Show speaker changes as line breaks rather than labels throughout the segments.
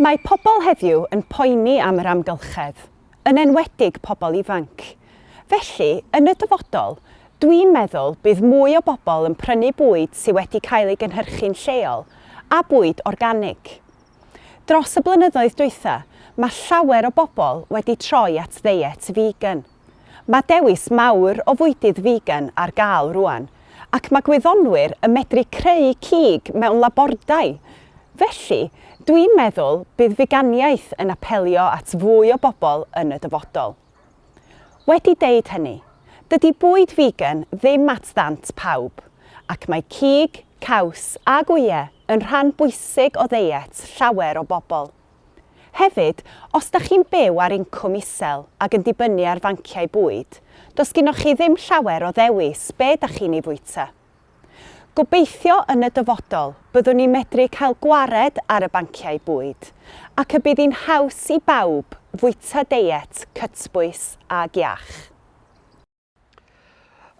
Mae pobl heddiw yn poeni am yr amgylchedd, yn enwedig pobl ifanc. Felly, yn y dyfodol, dwi'n meddwl bydd mwy o bobl yn prynu bwyd sydd wedi cael ei gynhyrchu'n lleol a bwyd organig. Dros y blynyddoedd dwytha, mae llawer o bobl wedi troi at ddeiet vegan. Mae dewis mawr o fwydydd figan ar gael rŵan, ac mae gwyddonwyr yn medru creu cig mewn labordai. Felly, dwi'n meddwl bydd figaniaeth yn apelio at fwy o bobl yn y dyfodol. Wedi deud hynny, dydy bwyd figan ddim at ddant pawb, ac mae cig, caws a gwyau yn rhan bwysig o ddeiet llawer o bobl. Hefyd, os da chi'n byw ar incwm isel ac yn dibynnu ar fanciau bwyd, does gynnoch chi ddim llawer o ddewis be da chi'n ei fwyta. Gobeithio yn y dyfodol byddwn ni'n medru cael gwared ar y banciau bwyd ac y bydd hi'n haws i bawb fwyta deiet cytbwys ag iach.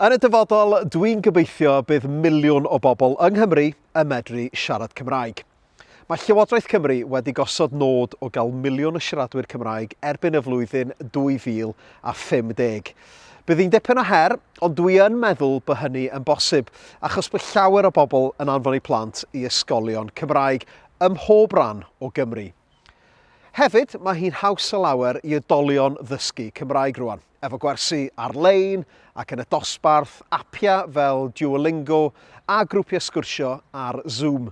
Yn y dyfodol, dwi'n gobeithio bydd miliwn o bobl yng Nghymru yn medru siarad Cymraeg. Mae Llywodraeth Cymru wedi gosod nod o gael miliwn o siaradwyr Cymraeg erbyn y flwyddyn 2050. Bydd hi'n dipyn o her, ond dwi yn meddwl bod hynny yn bosib, achos bod llawer o bobl yn anfon eu plant i ysgolion Cymraeg ym mhob rhan o Gymru. Hefyd, mae hi'n haws o lawer i oedolion ddysgu Cymraeg rwan. efo gwersi ar-lein ac yn y dosbarth, apiau fel Duolingo a grwpiau sgwrsio ar Zoom.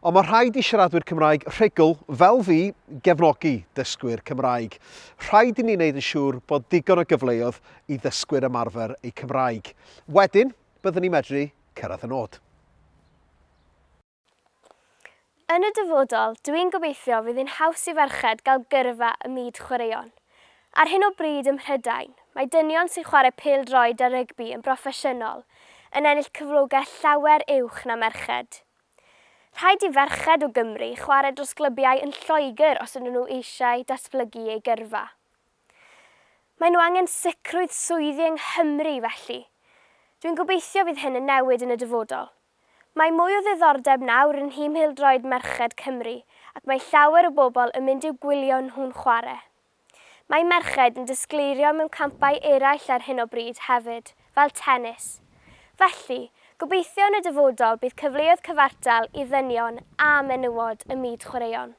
Ond mae rhaid i siaradwyr Cymraeg rhugl, fel fi, gefnogi dysgwyr Cymraeg. Rhaid i ni wneud yn siŵr bod digon o gyfleoedd i ddysgwyr ymarfer eu Cymraeg. Wedyn, byddwn ni'n medru cyrraedd y nod.
Yn y dyfodol, dw i'n gobeithio fydd hi'n haws i ferched gael gyrfa ym myd chwaraeon. Ar hyn o bryd ym Mhrydain, mae dynion sy'n chwarae pêl-droed a rygbi yn broffesiynol yn ennill cyflogaeth llawer uwch na merched. Rhaid i ferched o Gymru chwarae dros glybiau yn Lloegr os ydyn nhw eisiau datblygu eu gyrfa. Maen nhw angen sicrwydd swyddi yng Nghymru, felly. Dw i'n gobeithio fydd hyn yn newid yn y dyfodol. Mae mwy o ddiddordeb nawr yn nhîm pêl-droed merched Cymru ac mae llawer o bobl yn mynd i'w gwylio nhw'n chwarae. Mae merched yn disgleirio mewn campau eraill ar hyn o bryd hefyd, fel tennis. Felly, gobeithio yn y dyfodol bydd cyfleoedd cyfartal i ddynion a menywod ym myd chwaraeon.